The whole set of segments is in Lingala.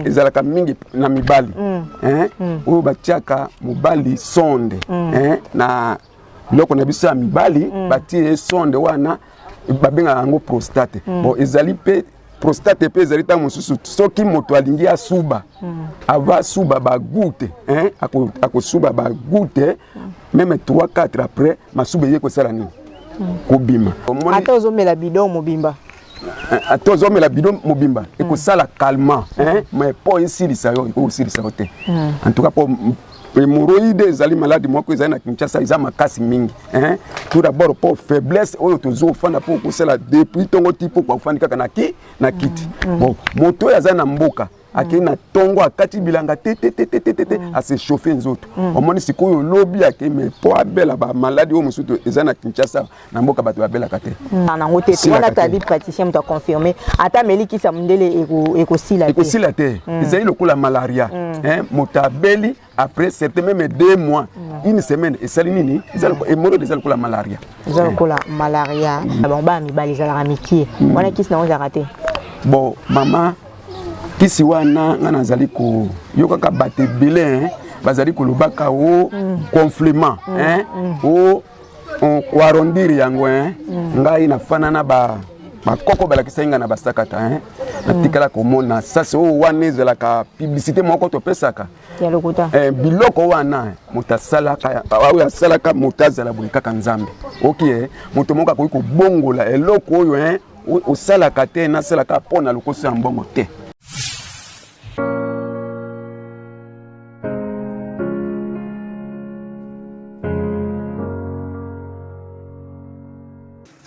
ezalaka mingi na mibali mm. Eh? Mm. oyo batiaka mobali sonde mm. eh? na biloko na biso ya mibali batie ye sonde wana babengaka yango prostate bon ezali mpe prostate mpe ezali ntango mosusu soki moto alingi asuba ava asuba bagute eh? akosuba bagute meme 3 4 après masuba eye kosala nini kobima ata ozomela bidon mobimba tozo mela bidon mobimba hmm. ekosala calmant hein mais po esilisa yo ekosilisa yo te hmm. en tout cas po hemorroïde ezali maladi moko ezali na kinshasa eza makasi mingi hein? tout d'abord mpo faiblesse oyo tozo ofanda mpo okosala depuis ntongo ti mpo okofandi kaka na ki na kiti hmm. bon moto oyo aza na mboka akei na ntongo akati bilanga te te te te te te te mm. ase chauffe nzoto mm. omoni sikoyo lobi akei me mpo abela bamaladi oyo mosusu eza na kinshasa na mboka bato babelaka te mm. na yango te wana tadi praticien moto aconfirme ata ameli kisa mondele ekosila te ekosila te ezali lokola malaria moto abeli après certain meme deux mois une semaine esali nini emolo eza lokola malaria eza lokola malaria na bango bana mibali ezalaka mikie mm. wana kisi nango ezalaka te bon mama kisi wana ngai nazali koyokaka bato ebele bazali kolobaka o oh, mm. conflement mm. o oh, On ko arrondir yango hein. Mm. Ngai na fana na ba bakoko balakisaki ngai na basakata hein. Natikala komona sasi oyo oh, wana ezalaka publicité moko topesaka ya lokuta eh, biloko wana eh, moto asalaka ah, oyo asalaka moto azala boye kaka nzambe oki eh, moto moko akoki kobongola eloko oyo eh, osalaka te nasalaka mpo na lokoso ya mbongo te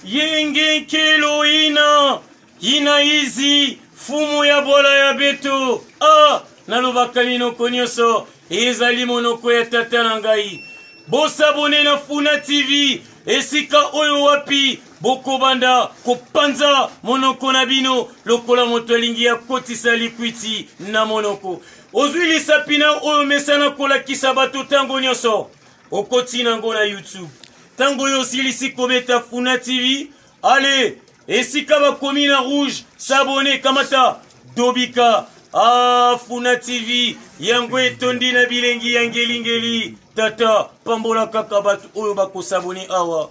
yenge kelo ina ina izi fumu ya bola ya beto a ah, nalobaka minoko nyonso ezali monoko ya tata na ngai bosabone na funa tv esika oyo wapi Bokobanda kopanza monoko na bino lokola moto alingi akotisa likwiti na monoko. Ozwi lisapi na oyo omesana kolakisa bato ntango nyonso. Okotina yango na YouTube. Ntango oyo osilisi kobeta Funa TV, ale esika bakomi na rouge sabone kamata dobika ah, Funa TV yango etondi na bilengi ya ngelingeli. Tata, pambola kaka bato oyo bakosabone awa.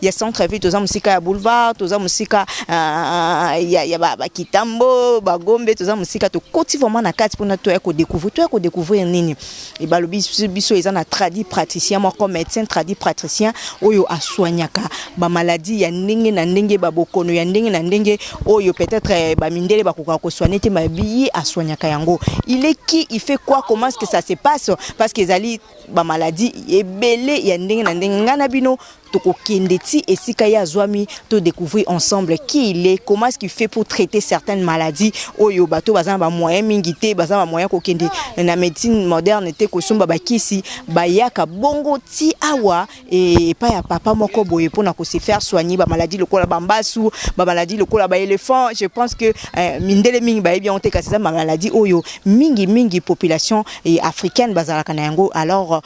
ya centre ville toza mosika ya boulevard toza mosika ya, ya ba, ba kitambo bagombe toza mosika tokoti vraiment na kati mpona toya kodécouvrir toya kodécouvrir nini e balobi biso- biso eza na tradi praticien moko médecin tradi praticien oyo asoignaka bamaladi ya ndenge na ndenge babokono ya ndenge na ndenge oyo peut-être eh, bamindele bakokaka kosoigne te mabiye asoignaka yango il est qui il fait quoi comment est-ce que ça se passe parce que ezali bamaladi ebele ya ndenge na ndenge ngai na bino Toko kende ti esika ye azuami to decouvrir ensemble qui il est, comment est-ce qu'il fait pour traiter certaines maladies oyo bato baza na ba moyens mingi te, baza na ba moyens ko kende na medecine moderne te ko somba ba kisi, ba yaka bongo ti awa epai ya papa moko boye pona ko se faire soigner ba maladies lokola ba mbasu, ba maladies lokola ba elephants, je pense que mindele mingi bayebi yango te kasi eza ba maladies oyo mingi mingi population africaine bazalaka na yango alors.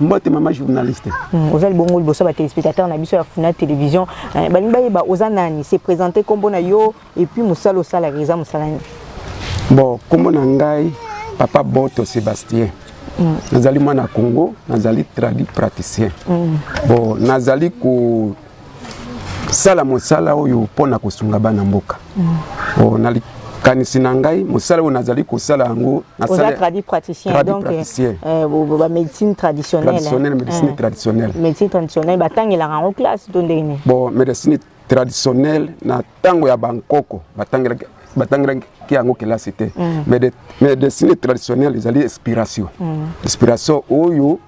mbote mama journaliste hmm, oza libongo liboso ba téléspectateurs na biso ya funa télévision eh, balingi bayeba oza nani se présenter kombo na yo et puis mosala osalaka eza mosala nini bon kombo na ngai papa boto sébastien hmm. nazali mwana congo nazali traduit praticien hmm. bon nazali ko sala mosala oyo mpo na kosunga bana mboka mm. oh, na likanisi na ngai mosala oyo nazali kosala yango nasaladi praticien donc euh, euh, bamédecine traditionnelle médecine euh, traditionnelle médecine traditionnelle batangelaka yango classe to ndenge nini bon médecine traditionnelle na ntango ya bankoko batangelaki batangelaki yango kelasi te mm. médecine traditionnelle ezali inspiration mm. inspiration oyo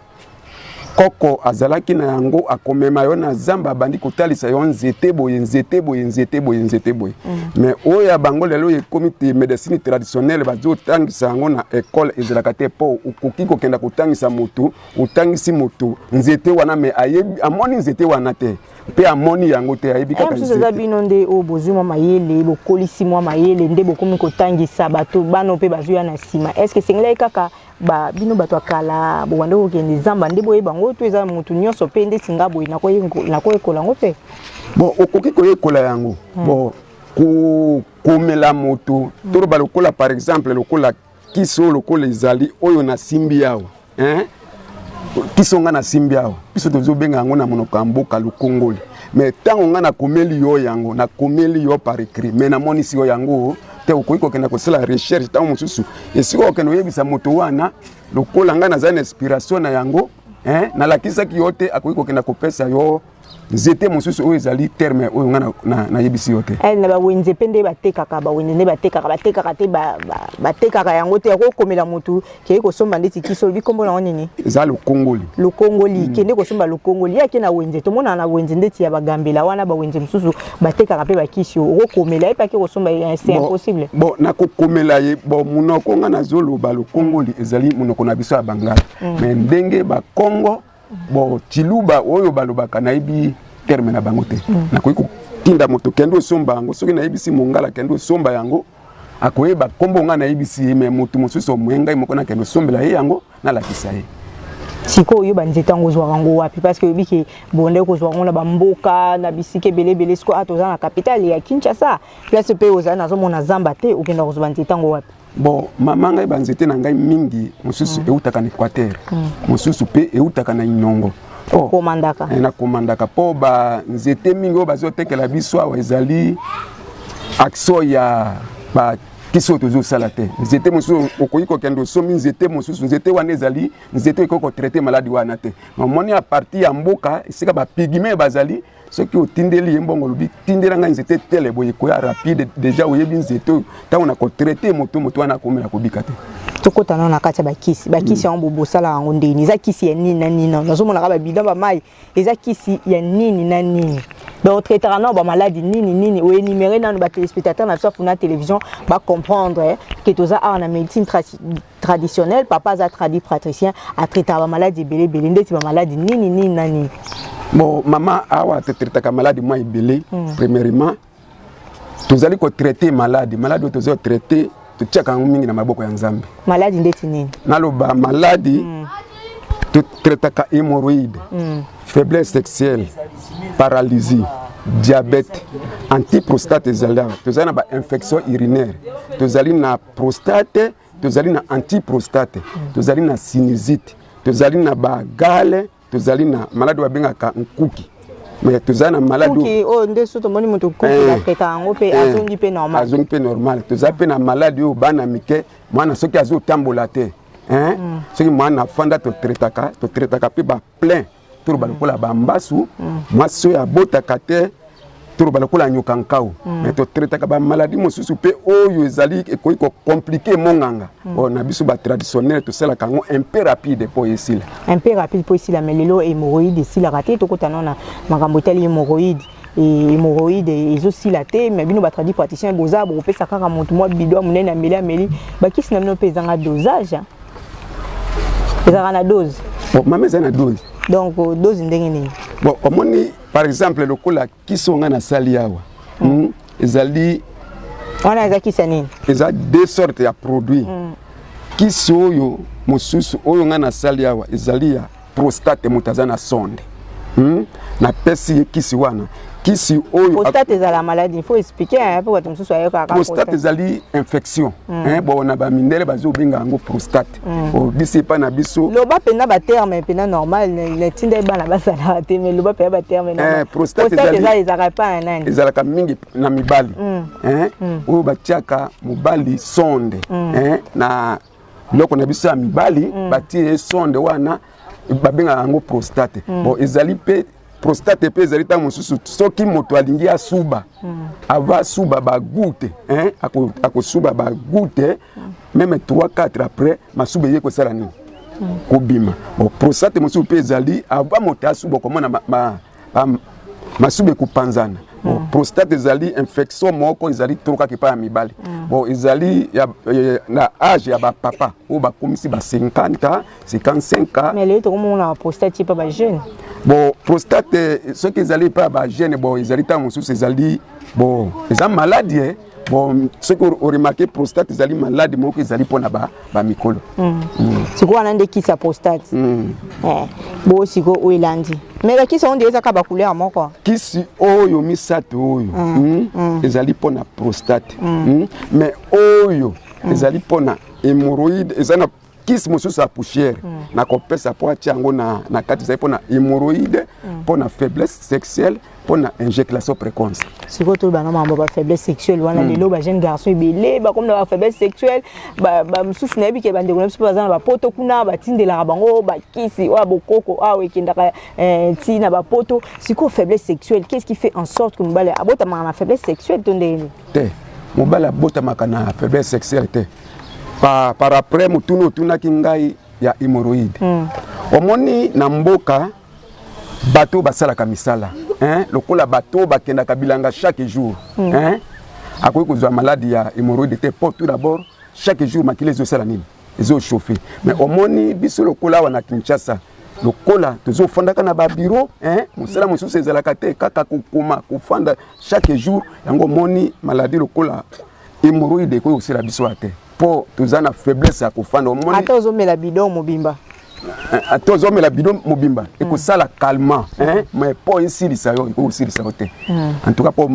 koko azalaki na yango akomema yo na zamba abandi kotalisa yo nzete boye nzete boye nzete boye nzete boye mm. mais oyo ya bango lelo ekomi te médecine traditionnelle bazotangisa yango na ekole ezalaka te mpo okoki kokenda kotangisa motu otangisi motu nzete wana me ayebi amoni nzete wana te mpe amoni yango te ayebi kaka mosusu eza bino nde oyo bozwi mwa mayele bokolisi mwa mayele nde bokomi kotangisa bato bana mpe bazwi ya na nsima est ce que esengelaki kaka ba bino bato ya kala bobanda kokende zamba nde boyeba yango to eza motu nyonso mpe nde singa boye nakoyekola yango mpe bon okoki koyekola yango hmm. bon kokomela moto toloba lokola par exemple lokola kisi oyo lokola ezali oyo nasimbi awa hein? kisi oyo ngai nasimbi awa biso tozobenga yango na monoko ya mboka lokongoli mais ntango ngai nakomeli yo yango nakomeli yo par écrit mais namonisi yo yango te okoki kokenda kosala recherche ntango mosusu esika okende oyebisa moto wana lokola ngai nazali na inspiration na yango eh, nalakisaki yo te akoki kokenda kopesa yo nzete mosusu oyo ezali terme oyo ngai nayebisi yo te eh, na bawenze mpe nde batekaka bawenze nde batekaka batekaka te batekaka yango te yakokomela motu kei kosomba ndeti kisi olobi nkombo nango nini eza lokongoli lokongoli mm. kende kosomba lokongoli ye ake na wenze tomonaka na wenze ndeti ya bagambela wana bawenze mosusu batekaka mpe bakisi oyo okokomela ye mpe ake kosomba ye c'est impossible bon nakokomela ye bon monoko nga nazoloba lokongoli ezali monoko na biso ya bangala mm. mais ndenge bakongo Bon, Chiluba oyo balobaka nayebi terme na bango te. Mm. Nakoki kotinda moto kende osomba yango soki nayebisi mongala kende osomba yango akoyeba nkombo ngai nayebisi ye me moto mosusu omoye ngai moko nakende osombela ye yango nalakisa ye sikoyo yo banzete yango ozwaka yango wapi parce que oyebi ke bonde kozwa yango na bamboka na bisika ebele ebele sikoyo ata oza na capitale ya kinshasa place mpe ozali nazomona zamba te okenda kozwa banzete yango wapi bon mama ngai banzete na ngai mingi mosusu mm. eutaka na équateur mm. mosusu mpe eutaka na inongo nakomandaka oh. eh, mpo banzete mingi oyo bazotekela biso awa ezali action ya ba kisi oyo tozosala te nzete mosusu okoki kokende osomi nzete mosusu nzete wana ezali nzete oyo ekoki kotraite maladi wana te mamoni aparti ya mboka esika bapigime bazali soki otindeli ye mbongo olobi tindela ngai nzete tele boye koya rapide deja oyebi nzete oyo ntango na kotraite moto moto wana akomela kobika te tokota nano na kati ya bakisi bakisi yango bobo osala yango ndeni eza kisi ya nini na nini nazomonaka babida bamai eza kisi ya nini na nini donc traitaka nano bamaladi nini nini oenumere nano batelespectateur na biso afuna télévision bacomprendre ke toza awa na médecine traditionnel papa aza tradi pratricien atraitaka bamaladi ebele ebele ndeti bamaladi nini nini na nini bon mama awa totraitaka maladi mwa ebele mm. premièrement tozali kotraite maladi maladi oyo tozali kotraite totiaka yango mingi na maboko ya nzambe maladi ndeti nini naloba maladi mm. totraitaka hémoroïde mm. faiblesse sexuelle paralysie diabète antiprostate ezali awa tozali na bainfection urinaire tozali na prostate tozali na antiprostate tozali na sinusite tozali na bagale tozali na maladi oyo babengaka nkuki mais tozali na maladi oyo nde so tomoni moto nkuki eh. atreta yango mpe eh. azongi mpe normal azongi mpe normal tozali mpe na maladi oyo bana mike mwana soki azotambola te eh. mm. soki mwana afanda totretaka totretaka mpe baplein toloba mm. lokola bambasu mm. mwasi oyo abotaka te toloba lokola nyoka nkau mm. me totraitaka bamaladi mosusu mpe oyo ezali ekoki kocomplike monganga mm. oyo na biso batraditionnaire tosalaka yango un peu rapide mpo esila un peu rapide mpo esila me lelo hémoroïde esilaka te tokota nao na makambo etali hémoroïde hemorroïde ezosila te mais bino batradi praticien boza bokopesa kaka motu mwa bido ya monene ameli ameli bakisi na bino mpe ezanga dosage ezalaka na dose mama eza na dose donc euh, dose ndenge nini bon omoni par exemple lokola kisi oyo ngai nasali awa hmm. hmm, ezali wana eza kisi ya nini eza deux sorte ya produit hmm. kisi oyo mosusu oyo ngai nasali awa ezali ya prostate moto aza na sonde hmm? napesi ye kisi wana kisi oyo prostate ezala maladie faut expliquer hein po bato mosusu ayokaka prostate ezali infection mm. hein bon na ba mindele bazo benga yango prostate mm. o bisi pa na biso loba pena ba terme pena normal na tinda bana basala te mais loba pena ba terme na eh, prostate ezali ezali ezaka pa na nani ezalaka mingi na mibali mm. hein mm. oyo batiaka mobali sonde mm. hein na biloko na biso ya mibali mm. batie sonde wana babengaka yango prostate mm. bon ezali mpe prostate mpe ezali ntango mosusu soki moto alingi asuba mm. ava asuba bagute eh? akosuba bagute mm. meme 3 4 après masuba eye kosala nini mm. kobima bon prostate mosusu mpe ezali ava moto asuba okomona ma, ma, ba masuba ekopanzana mm. bon, prostate ezali infection moko ezali trop kaka epai ya mibali mm. bon ezali ya, ya, na age ya bapapa oyo bakomisi ba 50 ans 55 ans mais lelo tokomona ba prostate epai ba jeune bon prostate soki ezali epai ya ba jeune bon ezali ntango mosusu ezali bon eza maladi eh? bon soki oremarke prostate ezali malade moko ezali mpona bamikolo ba mm. mm. sikoyo wana nde kisi ya prostate mm. eh, bo sikoyo oyo elandi mais bakisi yango nde ezaka bacouleur moko kisi oyo misato oyo mm. Mm. Mm. ezali mpona prostate mm. Mm. mais oyo mm. ezali mpona hémoroïde eza na kisi mosusu ya poussière mm. nakopesa mpo atya yango na, na kati ezali mpo na hémorroïde mpo mm. na faiblesse sexuelle mpo na injeculation précoce sikoyo tolobana mambo ba faiblesse sexuelle wana mm. lelo ba jeune garçon ebele bakomi na ba faiblesse sexuelle bamosusu nayebi ke bandeko na biso baza na bapoto kuna batindelaka bango bakisi oyo bokoko awa ekendaka eh, ti na bapoto sikoyo faiblesse sexuelle qu'est ce qui fait en sorte que mobali abotamaka na faiblesse sexuelle to ndenge nini te mobali abotamaka na faiblesse sexuelle te pa, par après motuna otunaki ngai ya hémorroïde mm. omoni na mboka bato basalaka misala hein? lokola bato bakendaka bilanga chaque jour mm. hein? akoki kozwa maladi ya hémorroïde te po tout d'abord chaque jour makila ezosala nini ezochauffe mais mm. omoni biso lokola awa na kinshasa lokola tozofandaka na babiro mosala mosusu ezalaka te kaka kokoma kofanda chaque jour yango omoni maladi lokola Hemorroïde ekoki kosila biso wa te mpo toza na faiblesse ya kofanda. Omoni ata ozomela bidon mobimba eh, ata ozomela bidon mobimba mm. ekosala calmant eh, mais mpo esilisa yo ekoki kosilisa yo te mm. en tout cas mpo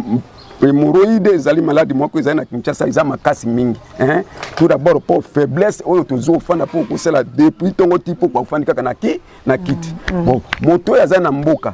hemorroïde ezali maladi moko ezali na kinshasa eza makasi mingi eh? tout d'abord mpo faiblesse oyo tozo ofanda mpo okosala depuis ntongo ti mpo ofandi kaka na ki na kiti mm. bon moto oyo aza na mboka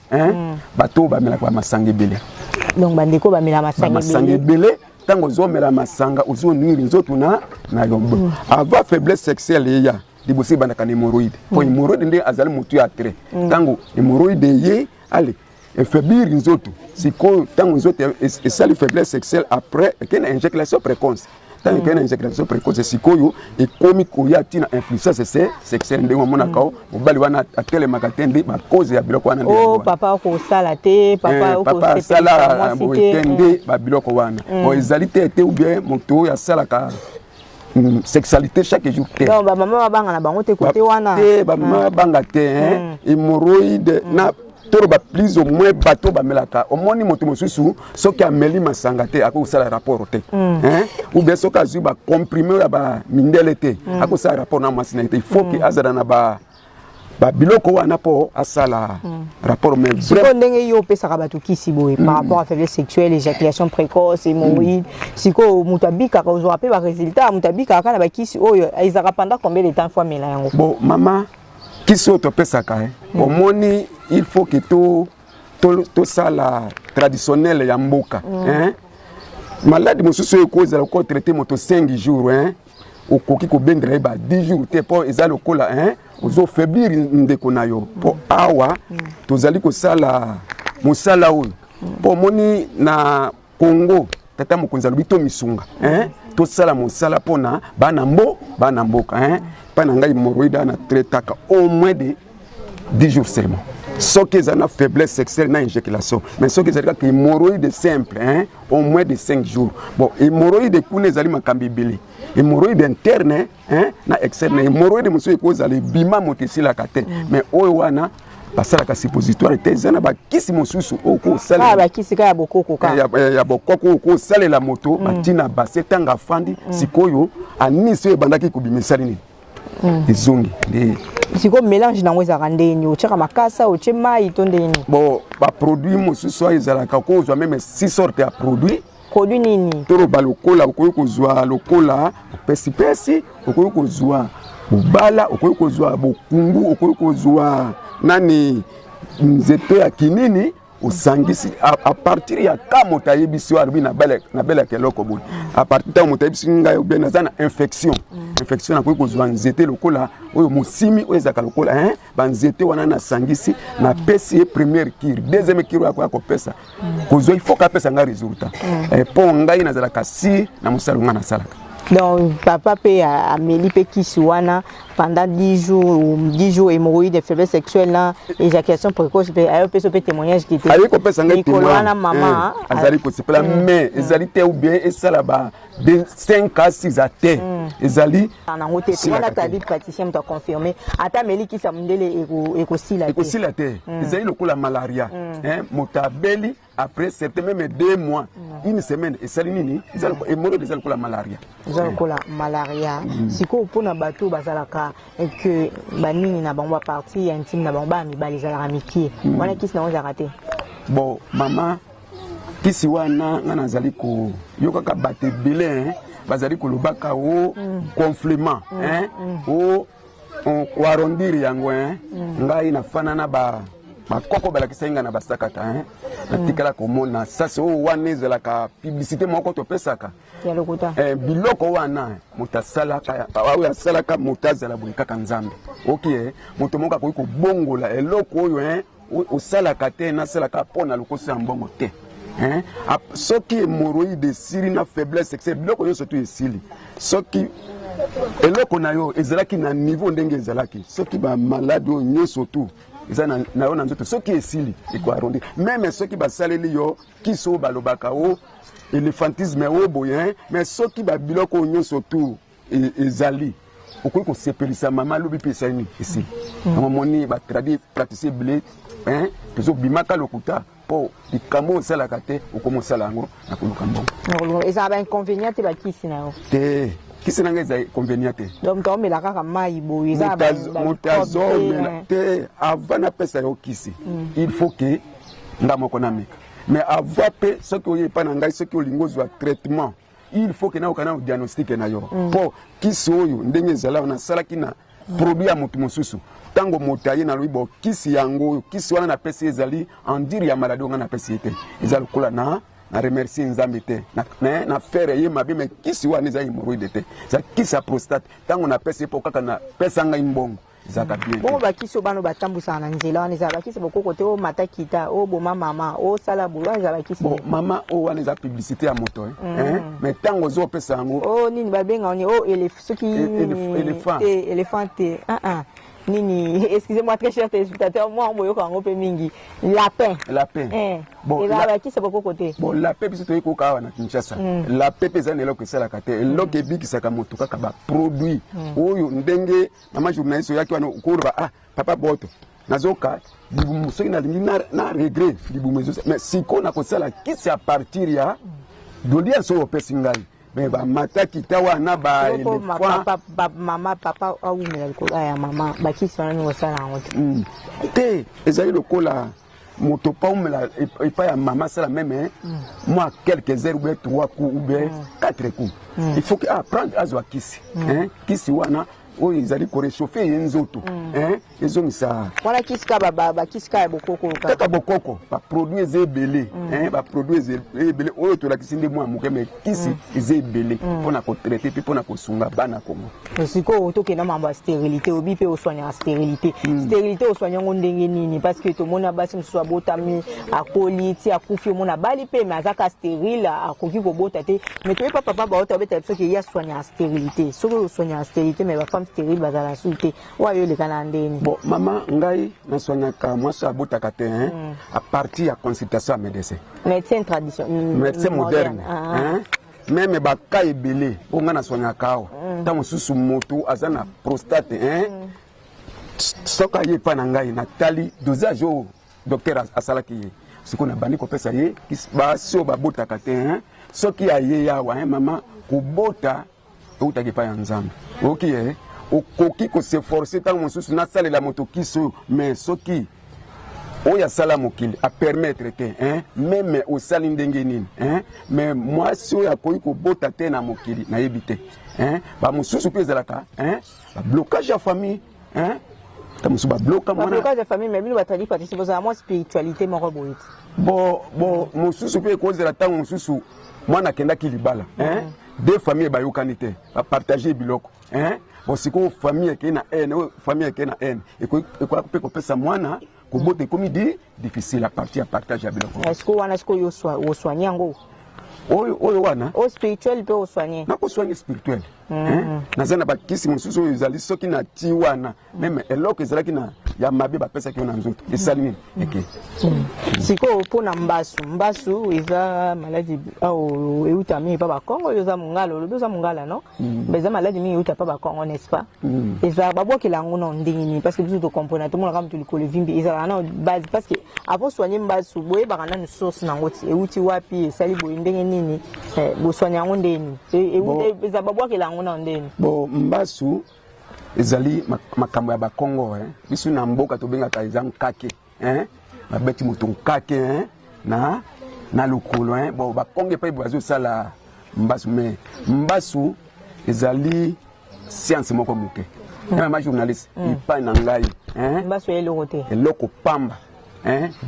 hein mm. bato bamelaka ba masanga ebele donc ba ndeko bamela masanga ebele masanga ebele tango ozomela masanga ozonwili nzoto na na yo mm. avant faiblesse sexuelle eya liboso ebandaka na hémorroïde mpo mm. hémorroïde nde azali motu ya trait ntango mm. hémorroïde eye ale efaiblir nzoto sikoyo ntango nzoto esali faiblesse sexuelle après eke na injeculation précoce ntango ekei na insécrétisation précoce sikoyo ekomi koya ntina influence se sexuelle ndenge omonaka o mobali wana atelemaka te nde bakoze ya biloko wana oh, papa okosala te papa asala boye te nde mm. babiloko wana mm. bon ezali te te ou bien moto oyo asalaka Mm, sexualité chaque jour te donc ba maman babanga na bango te kote wana te ba maman babanga te hein hémorroïde na toloba plus au moins bato bamelaka omoni moto mosusu soki ameli masanga te akoki kosala rapport te mm. ou bien soki azwi bacomprime oyo ya bamindele te mm. akoki kosala rapport na mwasi na ye te il faut ke mm. azala na ba babiloko wana mpo asala hmm. rapport sikoyo ndenge yo opesaka bato kisi boye par hmm. rapport à faiblesse sexuelle éjaculation précoce hémorroïde hmm. sikoyo moto abikaka ozwaka mpe baresultat moto abikaka kaka na bakisi oyo ezalaka pendant combien de temps fo amela yango bo mama kisi oyo topesaka hein. Mm. omoni il faut que to tosala traditionnel ya mboka mm. hein? maladi mosusu oyo ekozala ko traite moto 5 jours hein? okoki kobendela ye ba 10 jours te mpo eza lokola hein? ozofaiblir ndeko na yo mpo mm. awa mm. tozali kosala mosala oyo mpo omoni na Congo tata mokonzi alobi to misunga hein tosala mosala pona bana mbo bana mboka hein pa na ngai moroida na traitaka au moins de 10 jours seulement soki eza na faiblesse sexuelle na éjaculation mais soki ezali kaka hémorroïde simple hein, au moins de 5 jours bon hémorroïde kuna ezali makambo ebele hémorroïde interne hein na excès mais hemorroïde mosusu ekozala ebima moto esilaka te mm. mais oyo wana basalaka suppositoire te eza na bakisi mosusu okosalabakisi kaka ya bokoko kaka ya, ya, ya bokoko okosalela moto mm. batina base ntango afandi mm. sikoyo anisi oyo ebandaki kobima esali nini mm. ezongi nde sikoyo mélange nango ezalaka ndenge nini otyaka makasa otye mai to ndenge nini bon baproduit mosusu oyo ezalaka ko ozwa meme six sorte ya produit produit nini toloba lokola okoki kozwa lokola pesipesi okoki kozwa bobala okoki kozwa bokungu okoki kozwa nani nzete ya kinini osangisi a partir ya ka moto ayebisi yo alobi nabelaka eloko boye a partir ntango moto ayebisi ngai obe naza na infection mm. infection nakoki kozwa nzete lokola oyo mosimi oyo ezalaka lokola banzete wana nasangisi napesi ye première kire deuxième kire oyo akoya kopesa kozwa il faut kapesa ngai résultat eh, mpo ngai nazalaka sire na mosala ngai nasalaka donc papa mpe ameli mpe kisi wana pendant 10 jours 10 jours hémorroïde de faiblesse sexuelle na éjaculation précoce mpe ayo mpe so mpe témoignage kite aye kopesa ngai témoignage wana mama eh, azali kosepela mais ezali te ou bien esala ba de 5 à 6 à te mm. ezali nango te wana tabi praticien moto aconfirme ata ameli kisa mondele ekosila te ekosila te mm. ezali lokola malaria mm. moto abeli après certain meme deux mois mm. une semaine esali nini emonoko eza lokola malaria eza lokola malaria mm. sikoyo mpona bato oyo bazalaka que banini na bango baparti ya intime na bango baya mibali ezalaka mikie mm. wana kisi nango ezalaka te bon mama kisi wana nga nazali koyokaka bato ebele hein, bazali kolobaka o complement hein, o on- koarrondir yango hein. ngai nafana na ba bakoko balakisaki ngai na basakata hein. natikala komona sasi oyo wana ezalaka publicité moko topesaka ya lokuta Eh, biloko wana moto asalaka oyo asalaka moto azala boye kaka nzambe oki eh, moto moko akoki kobongola eloko oyo eh, osalaka te nasalaka mpo na lokoso ya mbongo te hein? soki hemoroïde esili na faiblesse excès biloko nyonso tu esili soki eloko na yo ezalaki na niveau ndenge ezalaki soki bamaladi oyo nyonso tu eza na, na yo na nzoto soki esili ekoarondi meme soki basaleli yo kisi oyo balobaka o oh, elephantisme oyo oh, boye mais soki babiloko oyo nyonso tu e, ezali okoki kosepelisa mama alobi mpe esali nini esili mm. yango moni batradi pratise ebele tozobimaka lokuta mpo likambo oyo osalaka te okomi osala yango na koluka mbongo ezala bainconvénient te bakisi na yo te kisi na ngai eza inconvénient te donc toomela kaka mai boye moto azomela te avant napesa yo kisi mm. il faut ke nga moko nameka mais avant mpe soki oye epai na ngai soki olingi ozwa traitement il faut que nayoka nano diagnostic na yo mm. po kisi oyo ndenge ezalaka nasalaki na produit ya moto mosusu ntango moto aye nalobi bo kisi yango oyo kisi wana napesi ye ezali endire ya maladi oyo ngai napesi ye te eza lokola na na remercie nzambe te na, na fere ye mabe me kisi wana eza hemoroide te eza kisi ya prostate ntango napesi ye mpo kaka napesa ngai mbongo Bongo bakisi oyo bana oyo batambwisaka na nzela wana ezala bakisi bokoko te omata kita oboma mama osala boye wana ezala bakisi bon, mama oyo oh, wana eza publicité ya moto eh? mm. eh? mais ntango ozo opesa yango o oh, nini babenga oni o elef, soki elephant te elephant te uh -uh. nini excusez-moi très cher téléspectateur moi omoyoka yango mpe mingi lapin lapin eh. bon, ezala bakisa bokoko te bon lapin biso toyei koyoka awa na kinshasa mm. lapin mpe eza na eloko esalaka te eloko mm. ebikisaka moto kaka baproduit mm. oyo ndenge Maman journaliste oyaki wana okoloba ah papa boto nazoka libumu soki nalingi na, na regret libumu ezosa mais siko nakosala kisi a partir ya dodi ya solo opesi ngai me bamata kita wana bamama papa awumela likolo ya mama bakisi wana ningosala yango te hmm. te ezali lokola moto pa umela epai ya mama asala meme mm. mwa quelques heures oubien trois coups oubien mm. quatre coups mm. il faut que aprendre ah, azwa kisi kisi wana oyo ezali korechauffe ye nzoto ezongisa wana kisi kaka bakisi kaka ya bokoko kaka bokoko baproduit eza ebele baproduit eza ebele oyo tolakisi nde mwa moke kisi mm. eza ebele mm. mpo na kotraite mpe mpo na kosunga bana kongo sikoyo tokenda mambo ya stérilité obi mpe oswanyaka stérilité mm. stérilité oswanya yango ndenge nini parce que tomona basi mosusu abotami akoli ti akufi omona abali mpe me azaka stérile akoki kobota te me toyepa papa baota obetala biso ke ye aswanyaka stérilité soki oswanyaka stérilité me bafemme stérile bazala su te Wa yo leka na ndeni. Bon maman ngai na soignaka mwasi abotaka te hein mm. à partir ya consultation ya médecin. Médecin tradition. Mm, médecin moderne. Ah. Hein? Meme ba cas ebele oyo ngai na soignaka awa. Mm. Tango susu moto aza na prostate hein. Mm. Soki aye epai na ngai natali dosage oyo docteur asalaki ye sikoyo nabandi kopesa ye basi oyo babotaka te hein? soki aye awa hein mama kobota Eutaki epai ya Nzambe. Oki eh? Okoki ko s'efforcer ntango mosusu nasalela moto kisi oyo, mais soki oyo asala mokili apermettre te hein? meme osali ndenge nini hein? mais mwasi oyo akoki kobota te na mokili nayebi te hein? bamosusu mpe ezalaka hein? bablocage ya famille hein ta musu ba bloka mwana bloka ya famille mais bino batali patisi bozala mwa spiritualité moko boye bo bo mususu mpe ekozela ntango mususu mwana akendaki libala hein mm. de famille bayokani te bapartage biloko bon sikoyo famille ekei na haine oyo famille ekei na haine ekoki mpe kopesa mwana kobota ekomi de difficile à partir ya partage ya biloko est-ce que wana sikoyo oswani yango oyo oyo wana o spirituel mpe oswani nakoswani spirituel mm. naza na bakisi mosusu oyo ezali soki na ti wana meme eloko ezalaki na ya mabe bapesaki yo na nzoto esali nini mm. eke mm. sikoyo mpo na mbasu mbasu eza maladi oyo eutami epa bakongo oyo oza mongala olobi oza mongala no eza maladi mingi euta epa bakongo n'est ce pas Mm. ezalaka babwakela yango nao ndenge nini parce que biso tokomprena tomonaka moto likolo evimbi ezalaka nao base parce que avant soigne mbasu boyebaka nanu source nango ti euti wapi esali boye ndenge nini eh, bosoigne yango ndenge nini e, e, eza babwakela yango nao ndenge nini bo mbasu ezali makambo ya bakongo eh. biso na mboka tobengaka eza nkake hein ba beti moto nkake hein na na lokolo hein bon ba konge pe bazo sala mbasu mais mbasu ezali science moko moke meme ma journaliste mm. epai na ngai mbasu ya eloko te eloko pamba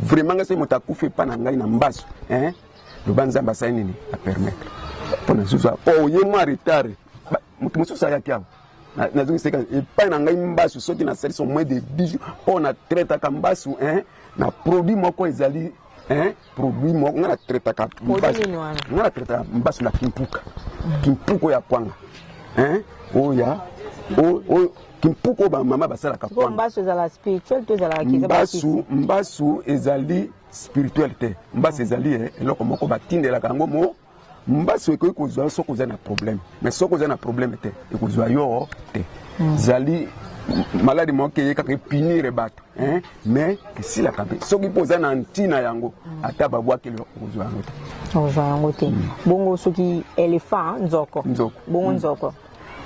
vraiment ngai soki moto akufi epai na ngai na mbasu loba nzambe asali nini apermettre mpo na zuzu oye mwa retard moto mosusu ayaki awa nazongi seka epai na ngai mbasu soki nasalisi moins de 10 jours mpo na traitaka mbasu eh, na produit moko ezali eh, produit moko ngai na traitaka mbasu ngai na traitaka mbasu na kimpuka kimpuko ya kwanga eh, oyo ya oyo kimpuko bamama basalaka mbasu mbasu ezali spirituel te mbasu ezali eh, eloko moko batindelaka yango mo Mbasu ekoki kozwa yo soki oza na problème, mais soki oza na problème te ekozwa yo te. Mm. Zali maladi moko eye kaka epinire bato mais esilaka mpe soki mpo oza na ntina yango ata babwakeli okozwa yango te okozwa yango te mm. bongo soki elephant nzoko nzoko bongo mm. nzoko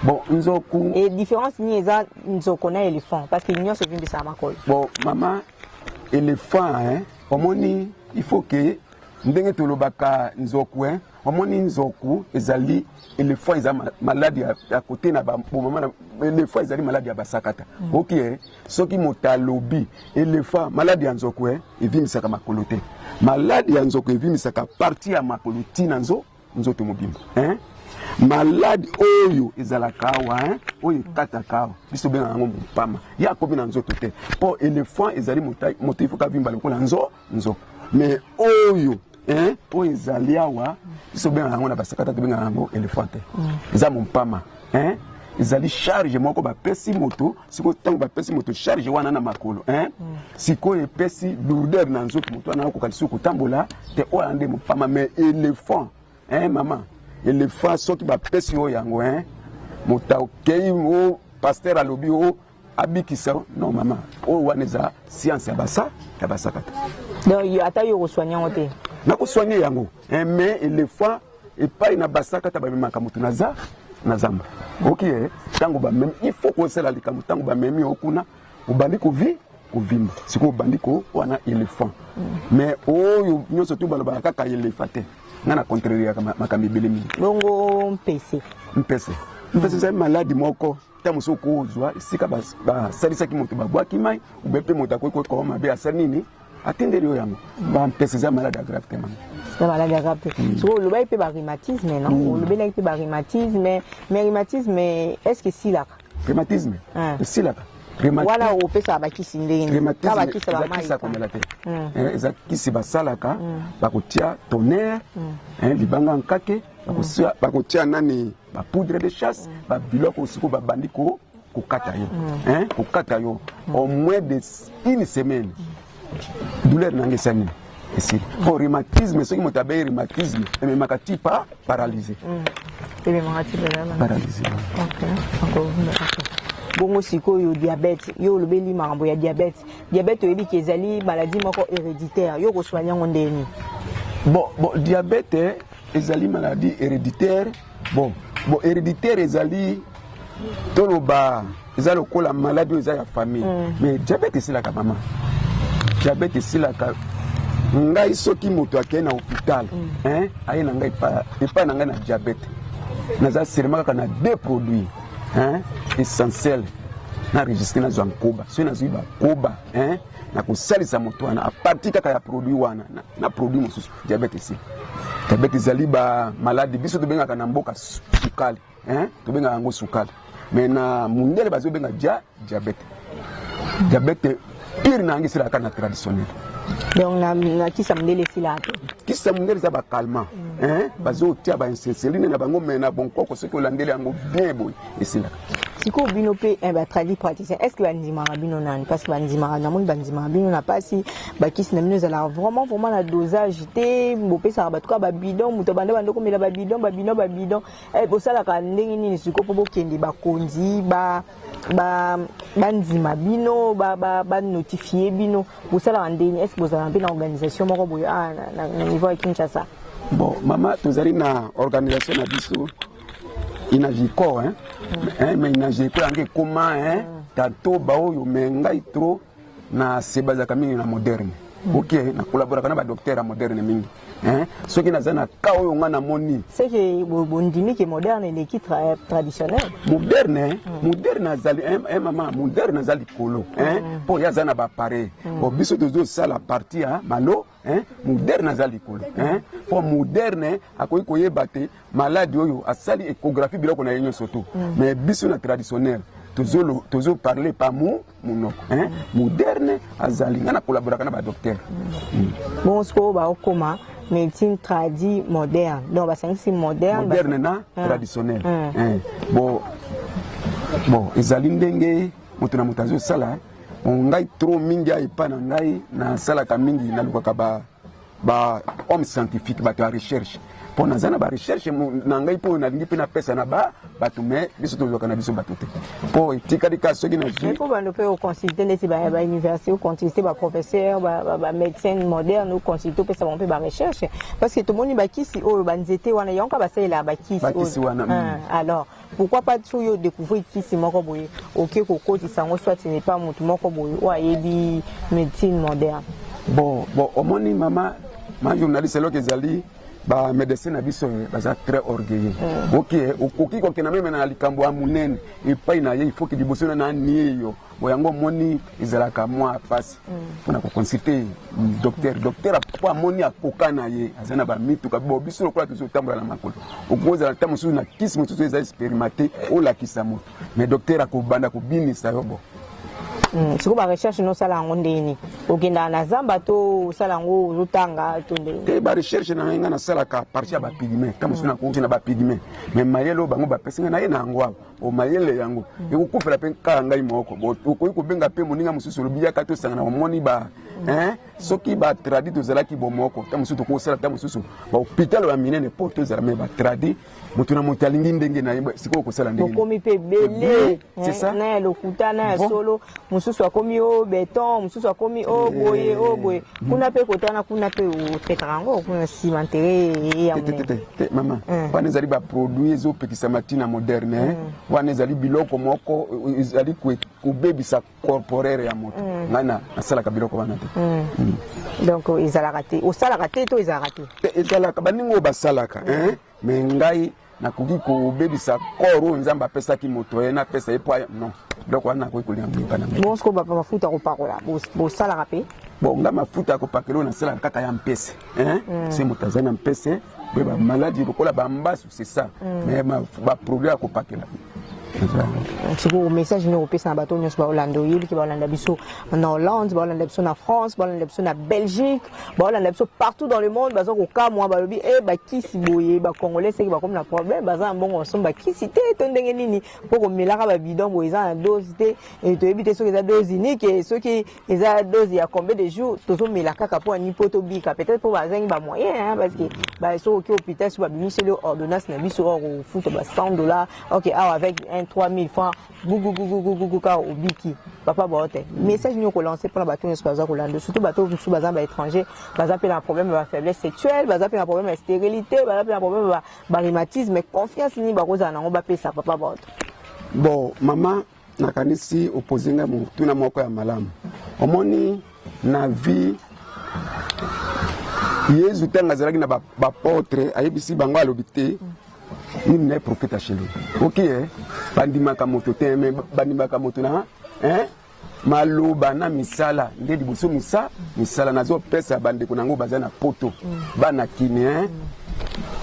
bon nzoku e différence nini eza nzoko na elephant parce que nyonso evimbisaka makolo bon mama elephant hein, omoni il faut que Ndenge tolobaka nzoku hein, omoni nzoku ezali elephant eza malade ya, ya kote na ba bomama na elephant ezali malade ya basakata mm. oki okay, eh? soki moto alobi elephant malade ya nzoku eh? evimisaka makolo te. Malade ya nzoku evimisaka parti ya makolo ti na nzoku nzoto mobimba hein? malade oyo ezalaka awa hein? oyo ekataka awa biso benga yango mopama ye akomi na nzoto te mpo elephant ezali moto ifoka vimba lokola nzo nzo mais oyo hein? oyo ezali awa biso benga yango na basakata tobengaka yango elephant te mm. eza mompama hein ezali charge moko bapesi moto sikoyo ntango bapesi moto charge wana na makolo hein mm. sikoyo epesi lourdeur na nzoto moto wana akoka lisusu kotambola te oyo ande mopama mais éléphant hein mama éléphant soki bapesi yo yango hein moto akei o pasteur alobi o abikisa non mama oyo wana eza science ya basa ya basakata donc ata yo okosoigne yango te nakosoigne yango eh, mais elephant epai na basakata bamemaka moto na za na zamba oki ye ntango bamemi il faut kosala likambo ntango bamemi yo kuna obandi kovi kovimba sikoyo obandi ko wana elephant mais oyo nyonso tu balobaka kaka elephant te ngai na contreriaka makambo ebele mingi bongo mpese mpese mpese ezali maladi moko ntango mosusu okozwa esika basalisaki moto babwaki mai ube mpe moto akoki kokoma mabe asali nini atindeli yo yango bampesa eza malade agrave te mama na maladi ya grape mm. soko olobaki mpe barhumatisme no mm. olobelaki mpe barhumatisme mais rhumatisme est ce que esilaka rhumatisme ah. esilaka wana opesaka bakisi ndengeakisa komela te mm. eh, eza kisi basalaka bakotia tonnerre eh, libanga nkake bakotia nani ba poudre de chasse ba biloko siko babandi ko kokata yo hein kokata yo au moins de une semaine douleur nanga esa nini esili po rhumatisme soki moto abeyi rhumatisme ememaka ti pa paralyse paralyse bongo sikoyo diabete yo olobeli makambo ya diabete diabete oyebi ke ezali maladie moko héréditaire yo okosoigne yango ndenge nini bon bon diabete ezali maladie héréditaire bon bon héréditaire ezali toloba eza lokola maladie oyo eza ya famille mm. mais diabète esilaka mama diabète esilaka ngai soki moto akei na hôpital mm. aye na ngai epai na ngai na diabète naza selema kaka na deux produits essentiel na registre nazwa nkoba soki nazwi bakoba nakosalisa moto wana apartir kaka ya produit wana na produit mosusu Diabète esi diabète ezali ba maladi biso tobengaka na mboka sukali hein? tobengaka yango sukali me na mundele bazobenga dia diabète diabète pire na yango esilaka na traditionnel donc na, na kisa mundele esilaka te kisa mundele eza bakalma mm. hein? bazotia bainsenseline na bango me na bonkoko soki olandeli yango bien boye esilaka sikoyo bino mpe eh, batradi praticien est ce que bandimaka bino nani parce que bandimaka namoni bandimaka bino na mpasi bakisi na bino ezalaka vraiment vraiment na dosage te bopesaka bato kaka babidon moto abanda banda komela babidon babidon babidon eh, bosalaka ndenge nini sikoyo mpo bokende bakonzi bandima bino banotifie bino bosalaka ndenge nini est ce que bozalaka mpe na organisation moko boye ah, na niveau ya kinshasa bon mama tozali na organisation na biso inajiko hein? Hein, mais inajiko yango ekoma hein? tato baoyo me ngai tro na sebazaka mingi na moderne ok na collaboraka na badoktere ya moderne mingi hein? soki naza na ka oyo ngai namoni seke bondimi ke moderne eleki tra, traditionnel moderne mm. moderne azali eh, eh, mama moderne aza likolo mpo mm. ye aza na bapareil mm. bo biso tozosala parti ya malo Hein? moderne aza likolo hein? po moderne akoki koyeba te maladi oyo asali échographie biloko na ye nyonso to mm. mais biso na traditionnel tozo parle pa mo monoko hein? moderne azali ngai nakolaboraka na badocteur mm. mm. bongo sikoyo baokoma médecine tradi moderne donc basangisi moderne moderne na ah. traditionnel ah. Eh. bo bo ezali ndenge moto na moto azosala Bon, ngai trop mingi epa na ngai nasalaka mingi nalukaka ba, ba homme scientifique bato ya recherche mpo naza na barecherche na ngai mpo nalingi mpe napesa na ba bato me biso tozwaka na biso bato te mpo etikali ka soki nazwiko bando mpe oconsulte ndeti bauniversité oconsulte baprofesseur bamédecine moderne oconsulte opesa bango mpe barecherche parce que tomoni bakisi oyo banzete wana yango ka basalelaka bakisi wana ah, alors Pourquoi pas soki yo decouvrir kisi moko boye oke kokotisa yango soit n'est pas moto moko boye oyo ayebi médecine moderne bon bon omoni mama ma journaliste eloko ezali ba médecin na biso eh, baza très orgueilleux mm. oki eh, okoki kokenda meme na likambo ya monene epai na ye ifoki liboso na nanie yo Bon yango omoni ezalaka mwa pasi mpo na koconsulte docteur docteur mpo amoni akoka na ye aza na bamituka bo biso lokola tozotambola na makolo okozala ntango mosusu na kisi mosusu eza experimente olakisa moto mais docteur akobanda kobinisa yo bo hmm, sikoyo barecherche nosala yango ndenge nini okendaka na zamba to osala yango ozotanga to ndenge te barecherche na ngai ngai nasalaka parti ya bapigme ntango mosusu nakoki na bapigme mais mayele oyo bango bapesi ngai na ye na yango awa o mayele yango mm. ekokufela mpe kaka ngai moko okoki kobenga mpe moninga mosusu olobi yaka tosangana omoni ba mm. soki batradi tozalaki bomoko ta mosusu tokosala ta mosusu bahopitalo ya minene mpo tozala me batradi moto na moto alingi ndenge na ye sikoyo okosala ndeokomi mpe ebele na ya lokuta na ya solo mosusu akomi o oh, beton mosusu akomi o oh, boye o oh, boye mm. kuna mpe kotana kuna mpe otekaka yango kuna nsima ntere ya te mama mm. wana ezali baproduit ezopekisama ntina moderne eh? mm. wana ezali biloko moko eh, ezali kobebisa corporere ya moto mm. ngai nasalaka biloko wana te mm. Mm. donc ezalaka te osalaka te to ezalaka te eh, ezalaka baninga oyo basalaka mm. eh? me ngai nakoki kobebisa kor oyo nzambe apesaki moto ye napesa ye po non donc wana nakoki kolinga mimpa na ngai bonso mafuta kopakola bosalaka mpe bon ngai mafuta ya kopakela oyo nasalaka kaka ya mpese hein mm. se moto aza na mpese mpe bamaladi lokola bambasu c'est ça mm. mais baproduit ya kopakela sikoyo message nini okopesa na bato nyonso baolanda oyeliki baolanda biso na hollande baolanda biso na france baolanda biso na belgique baolanda biso partout dans le monde baza kokamwa balobi e bakisi boye bacongolais seki bakomi na problème baza na mbongo basombi bakisi te to ndenge nini mpo komelaka babidon boye eza na dose te toyebi te soki eza dose unique soki eza dose ya combien de jours tozomela kaka mpo ani mpo tobika peut-être mpo bazangi bamoyen hein, parce que basoki oki hôpital soki babimiseli ordonnance na biso or kofuta ba 100 dollars ok awa avec un 3000 francs gugugugugugugu kaka obiki papa baote message nini okolanse mpo na bato nyonso baza kolanda surtout bato mosusu baza ba étranger baza mpe na problème ya ba faiblesse sexuelle baza mpe na problème ya stérilité baza mpe na problème ya barhumatisme confiance nini bakozala nango bapesa papa baote bon mama nakanisi opoze ngai motuna moko ya malamu omoni na vie yezu ntango azalaki na bapotre ba ayebisi bango alobi te nini naye profete achele oki eh? bandimaka moto te me bandimaka moto na eh? maloba na misala nde liboso misa misala nazopesa bandeko na yango baza na poto bana kine eh?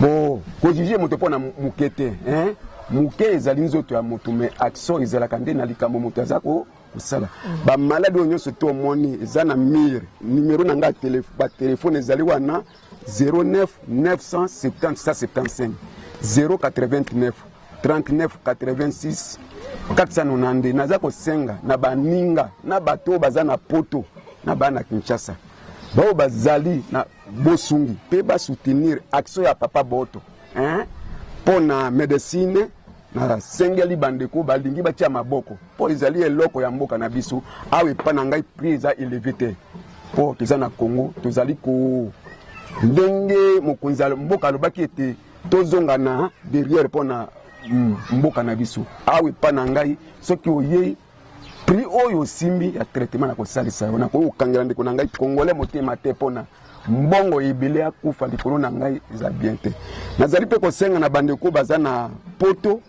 bo kojuge moto mpo na moke te eh? Muke ezali nzoto ya moto me action ezalaka nde na likambo moto aza ko kosala bamaladi oyo nyonso to omoni eza na mire numero na ngai batelefone ezali wana 09 970 089 39 86 492 naza kosenga na baninga na bato oyo baza na poto na bana kinshasa baoyo bazali na Bosungi pe ba soutenir action ya papa Boto hein? mpo na medecine nasengeli bandeko balingi batia maboko mpo ezali eloko ya mboka na biso awa epa na ngai prix eza eleve te mpo toza na congo tozali ko ndenge mokonzi ya mboka alobaki ete tozonga na derrière mpo na mboka na biso awa epa na ngai soki oyei prix oyo osimbi ya traitement nakosalisa yo nakoki kokangela ndeko na ngai congolais motema te mpona mbongo ebele akufa likolo na ngai eza bien te nazali mpe kosenga na bandeko baza na poto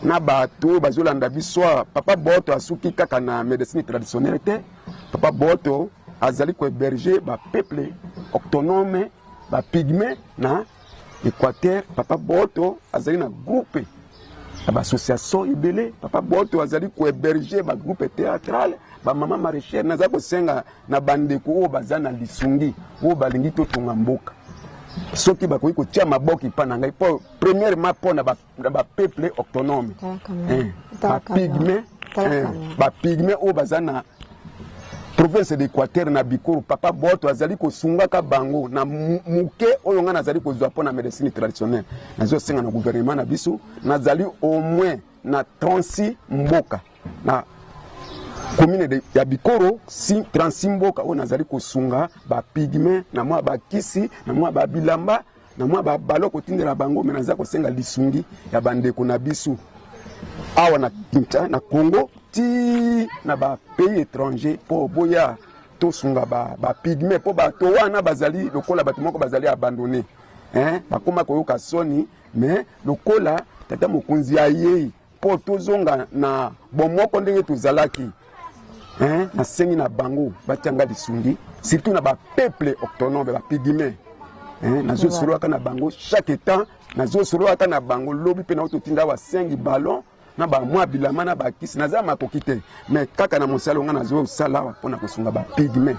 na bato oyo bazolanda biso papa boto asuki kaka na médecine traditionnelle te papa boto azali kohéberge bapeuple octonome bapigme na équateur papa boto azali na groupe Na ba associations ebele papa Boto azali ko heberger ba groupes theatrales ba mama maraîchère naza kosenga na bandeko oyo baza na lisungi oyo balingi totonga mboka soki bakoki kotia maboko epa na ngai mpo premièrement mpo na bapeuple autonome bapigme bapigme oyo baza na province d'Equateur na Bikoro papa Boto azali kosungaka bango na muke oyo ngai nazali kozwa mpo na medecine traditionnelle. Nazo senga na gouvernement na biso, nazali au moins na 36 mboka na commune de, ya Bikoro si, 36 mboka oyo nazali kosunga ba pygme na mwa bakisi na mwa babilamba na mwa ba balo kotindela bango me naza kosenga lisungi ya bandeko na biso awa na kinta na congo ti na bapays étranger mpo boya tosunga bapigme ba mpo bato wana bazali lokola bato moko bazali abandone eh, bakoma koyoka soni me lokola tata mokonzi ayei mpo tozonga na bomoko ndenge tozalaki hein? nasengi na bango batianga lisungi surtout na bapeuple octonome bapigime hein? nazosololaka na bango chaque état nazosololaka na bango lobi mpe nao totinda basengi ballon na bamwa bilama na bakisi naza makoki te mais kaka na mosala nga nazo sala pona kosunga ba pigme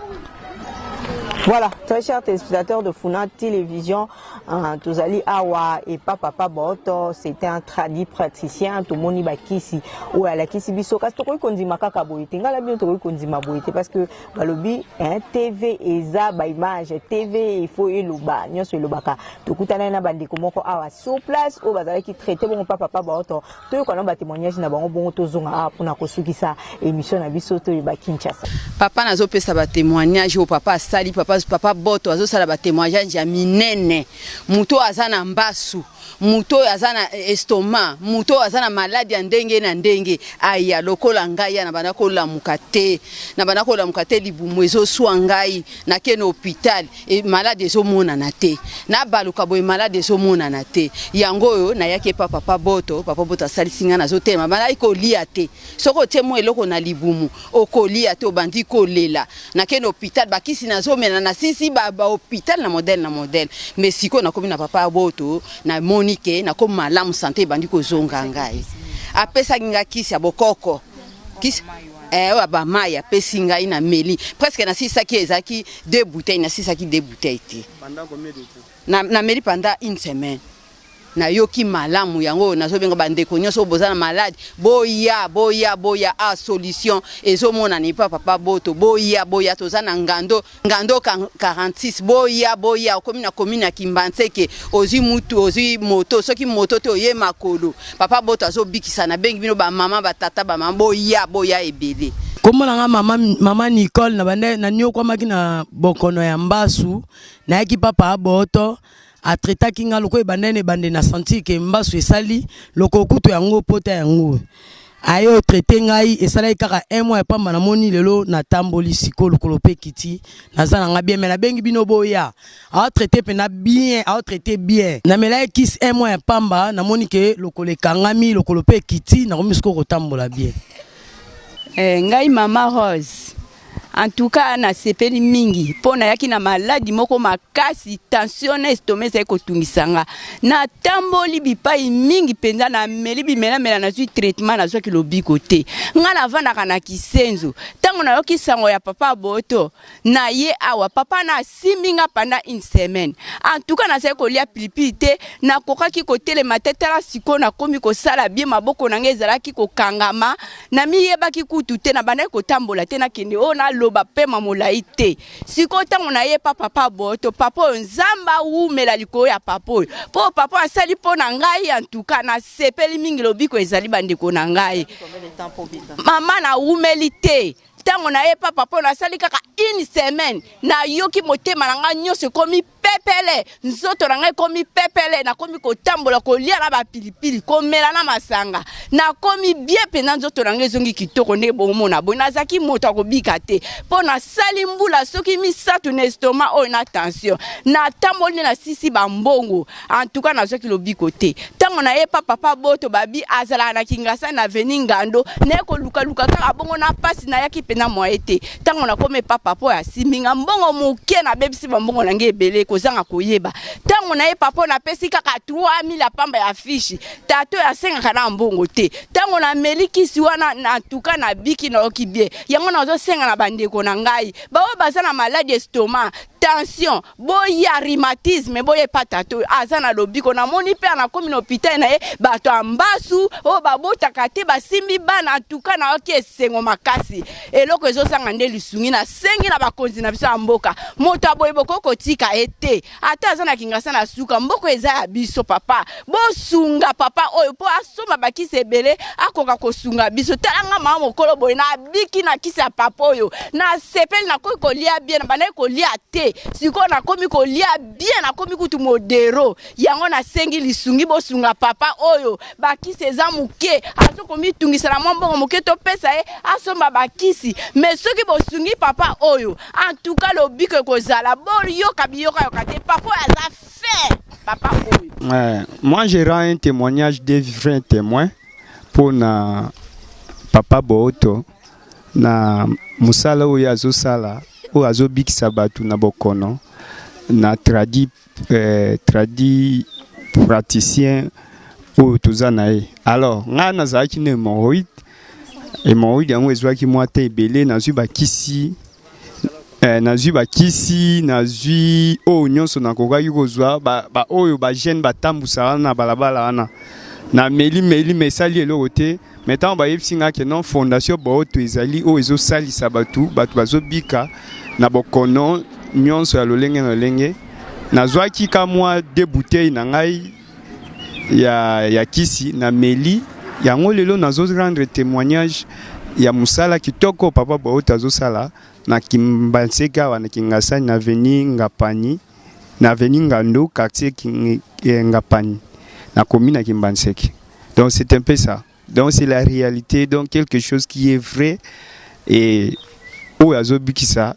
Voilà, très chers téléspectateurs de Funa Télévision, hein, Tozali Awa et Papa Paboto, c'était un tradit praticien, tout moni bakisi, ou à la kisi biso, kasi tokoi kondima kaka boyete, ngala bien tokoi kondima boyete, parce que balobi, hein, TV eza ba image, TV il faut eloba, nyoso elobaka, tokutana na bandeko moko awa sur place, ou bazalaki traité bon Papa Paboto, Toyoka na ba temoignage na bango bongo tozonga awa pona kosukisa emission na biso toyeba Kinshasa. Papa nazo pesa ba temoignage oyo papa asali papa papa Boto azo sala ba temoignage ya minene moto oyo aza na mbasu moto oyo aza na estomac moto oyo aza na maladi ya ndenge na ndenge aya lokola ngai ya na banda kolamuka te na banda kolamuka te libumu ezoswa ngai na kene hopital e malade ezomonana te nabaluka boye malade ezomonana te yango oyo nayaki epa papa boto papa boto asalisi ngai nazotelema bandaki kolia te soki otie mwa eloko na libumu okolia te obandi kolela nakende hopital bakisi nazomela na sisi bahopital na modele na modele me sikoyo nakomi na papa boto namoni ke nakomi malamu sante ebandi kozonga ngai apesaki ngai kisi ya bokoko kisi eh, oyo ba mai apesi ngai na meli presque nasisaki ezalaki deux bouteilles nasisaki deux bouteilles te na, na meli pendant une semaine nayoki malamu yango oyo nazobenga bandeko nyonso oyo boza na malade boya boya boya a ah, solution ezomonana epa papa boto boya boya toza na ngando Ngando 46 boya boya okomi na commune ya Kimbanseke ozui mutu ozui moto soki moto te oye makolo papa boto azobikisa na bengi bino ba mama ba tata ba mama boya boya ebele Kombo na nga mama, mama Nicole na banda na niokwamaki na bokono ya mbasu nayaki papa aboto a traitaki nga lokola ebanda na ebande na sentir que mbasu esali loko kutu yango pota yango aye o traite ngai esalaki kaka un mois ya pamba namoni lelo natamboli siko lokolo mpe kiti naza na nga bien me nabengi bino boya ao traite mpena bien ao traite bien namelaki kisi un mois ya pamba namoni ke lokolo ekangami lokolo mpe ekiti nakomi siko kotambola bien eh, ngai mama rose En tout cas nasepeli mingi mpo nayaki na maladi moko makasi, tension na estoma ezali kotungisa nga. Natamboli bipai mingi mpenza, nameli bimelamela, nazwi traitement, nazwaki lobiko te. Nga navandaka na Kisenzo, ntango nayoki sango ya papa Boto na ye awa, papa na Asimbi nga pendant une semaine. En tout cas nazali kolia pilipili te, nakokaki kotelema te tala sikoyo nakomi kosala bien maboko na nga ezalaki kokangama namiyebaki kutu te nabandaki kotambola te nakende oyo naloba pema molayi te sikoyo ntango naye pa papa boto papa oyo nzambe awumela likolo ya papa oyo mpo papa asali mpo na ngai en tout cas nasepeli mingi lobiko ezali bandeko na ngai mama nawumeli te Tango na ye papa po nasali kaka une semaine na yoki motema na nga nyoso ekomi pepele nzoto na nga ekomi pepele na komi kotambola kolia na ba pilipili komela na masanga na komi bien pena nzoto na nga ezongi kitoko nde bomona boye nazaki moto akobika te po nasali mbula soki misatu na estoma oyo na tension na tamboli nde na sisi ba mbongo En tout cas, nazwaki lobiko te. Tango na ye pa papa Boto babi azalaka na Kingasani na avenue Ngando, naye koluka luka kaka bongo na pasi nayaki pena moye te. Tango nakomi epa papa oyo asimbi nga mbongo moke nabebisi ba mbongo na nga ebele kozanga koyeba. Tango naye papa oyo napesi kaka 3000 ya pamba ya fishi. Tata oyo asengaka na mbongo te. Tango nameli kisi wana na en tout cas nabiki nayoki bien. Yango nazosenga na bandeko na ngai baoyo baza na maladi estomac tension boya rhumatisme boya epa tata oyo aza na lobiko namoni mpe anakomi na hopitale na ye bato ya mbasu oyo oh, babotaka te basimbi bana antuka nayoki esengo makasi eloko ezozanga nde lisungi nasengi na bakonzi na biso ya mboka moto ya boye bokoki kotika ye te ata aza na kingasa na suka mboka eza ya biso papa bosunga papa oyo mpo asomba bakisi ebele akoka kosunga biso tala nga mama mokolo boye nabiki na kisi ya papa oyo nasepeli nakoki kolia bien nabandaki kolia te sikoyo nakomi kolia bien nakomi kutu modero yango nasengi lisungi bosunga papa oyo bakisi eza moke azo komitungisa na mwa mbongo moke topesa ye asomba bakisi me soki bosungi papa oyo antuka lobiko ekozala boyoka biyokayoka te papa oyo aza Fait, papa oyo. Euh, moi, je rends un témoignage des vrais témoins pour na papa Booto na musala oyo azosala oyo azobikisa bato na bokono na tradi, euh, tradi praticien oyo toza na ye alors ngai nazalaki na hémorroïde hémorroïde yango ezwaki mwa te ebele nazwi bakisi eh, nazwi bakisi nazwi oyo oh, nyonso nakokaki kozwa baoyo ba bagene batambwisa wana na balabala wana na meli meli me esali eloko te me ntango bayebisi ngai ke non fondation booto ezali oyo ezosalisa bato bato bazobika na bokono nyonso ya lolenge na lolenge nazwaki ka mwa de bouteille na ngai ya, ya kisi na meli yango lelo nazo rendre témoignage ya musala kitoko papa Bohota azosala na Kimbanseke awa na Kingasani na avenue Ngapani na avenue Ngando quartier King, eh, Ngapani na commune ya Kimbanseke donc c'est un peu ça donc c'est la réalité donc quelque chose qui est vrai et oyo azobikisa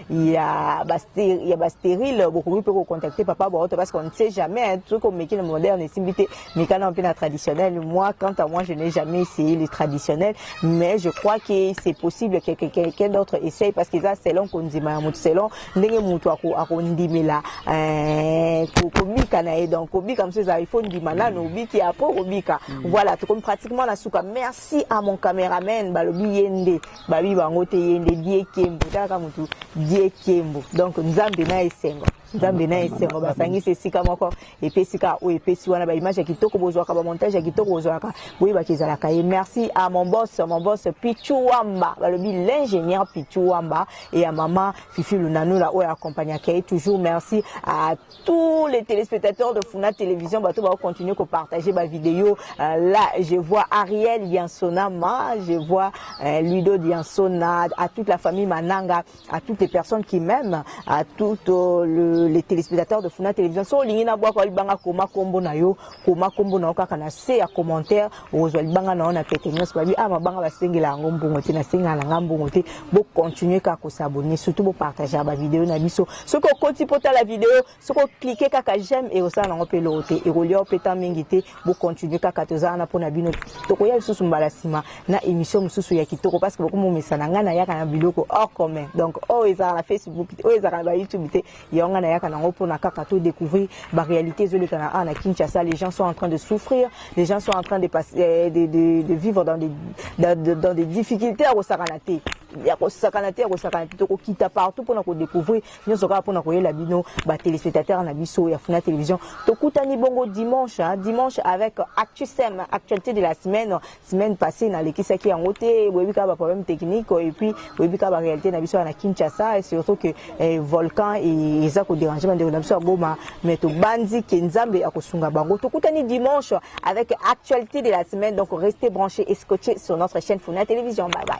ya ba stéri- ya ba stérile bokoki mpe kocontacte papa baoto parce qu'on ne sait jamais hein, soki omeki na moderne esimbi te mikana mpe na traditionnel moi quant à moi je n'ai jamais essayé le traditionnel mais je crois que c'est possible que que- quelqu'un d'autre essaye parce que eza selon kondima ya moto selon ndenge moto ako- akondimela euh, ko- kobika na ye donc kobika mosusu eza il faut ndima nano obiki après okobika voilà tokomi pratiquement na suka merci à mon cameraman balobi ye nde Babi bango te yende diekembo tala ka mutu diekembo donc nzambe na esengo nzambe na esengo basangisi esika moko epesi ka oyo epesi wana baimage ya kitoko bozwaka bamontage ya kitoko bozwaka boyebaka ezalaka ye merci à mon boss mon boss pichu wamba balobi l'ingénieur pichu wamba et ya mama fifi lunanula oyo akompagnaka ye toujours merci à tous les téléspectateurs de Funa Télévision, bato ba continuer ko partager ba vidéos. Euh, là, je vois Ariel Yansonama, je vois euh, Ludo Yansona, à toute la famille Mananga, à toutes les personnes qui m'aiment, à tous euh, le, les téléspectateurs de Funa Télévision. So lingina bwa ko libanga koma kombo na yo Koma kombo na yo kaka na se ya commentaire okozwa libanga na yo na pete nyonso. Babi ah mabanga basengela yango mbongo te, nasengela na nga mbongo te. Bo continuer kaka ko s'abonner, surtout bo partager ba video na biso. Soki okoti po tala video, soki o cliquer kaka j'aime et osala nango pe eloko te, ekolia yo pe temps mingi te. Bo continuer kaka toza wana pona bino. Tokoya lisusu mbala sima na emission mosusu ya kitoko parce que bokomomesana nga nayaka na biloko hors commun. Donc oyo ezalaka na Facebook te, oyo ezalaka na ba YouTube te, Yango nga nayaka na ngo pona kaka to decouvrir ba realite ezo leka na a na Kinshasa les gens sont en train de souffrir les gens sont en train de passer euh, de, de, de vivre dans des dans, de, dans des difficultés ya kosakana te ya kosakana te ya kosakana te tokokita partout pona ko découvrir nyonso kaka pona koyela bino ba téléspectateurs na biso ya Funa Télévision tokutani bongo dimanche hein, dimanche avec Actu Sem actualité de la semaine Semaine passee na lekisaki yango te boyebi kaka ba problème technique et puis boyebi kaka ba réalité na biso wana Kinshasa et surtout que eh, volcan eza ko déranger ba ndeko na biso aboma mais to banzi ke Nzambe akosunga bango tokutani dimanche avec actualité de la semaine donc restez branchés et scotchés sur notre chaîne Funa Télévision bye bye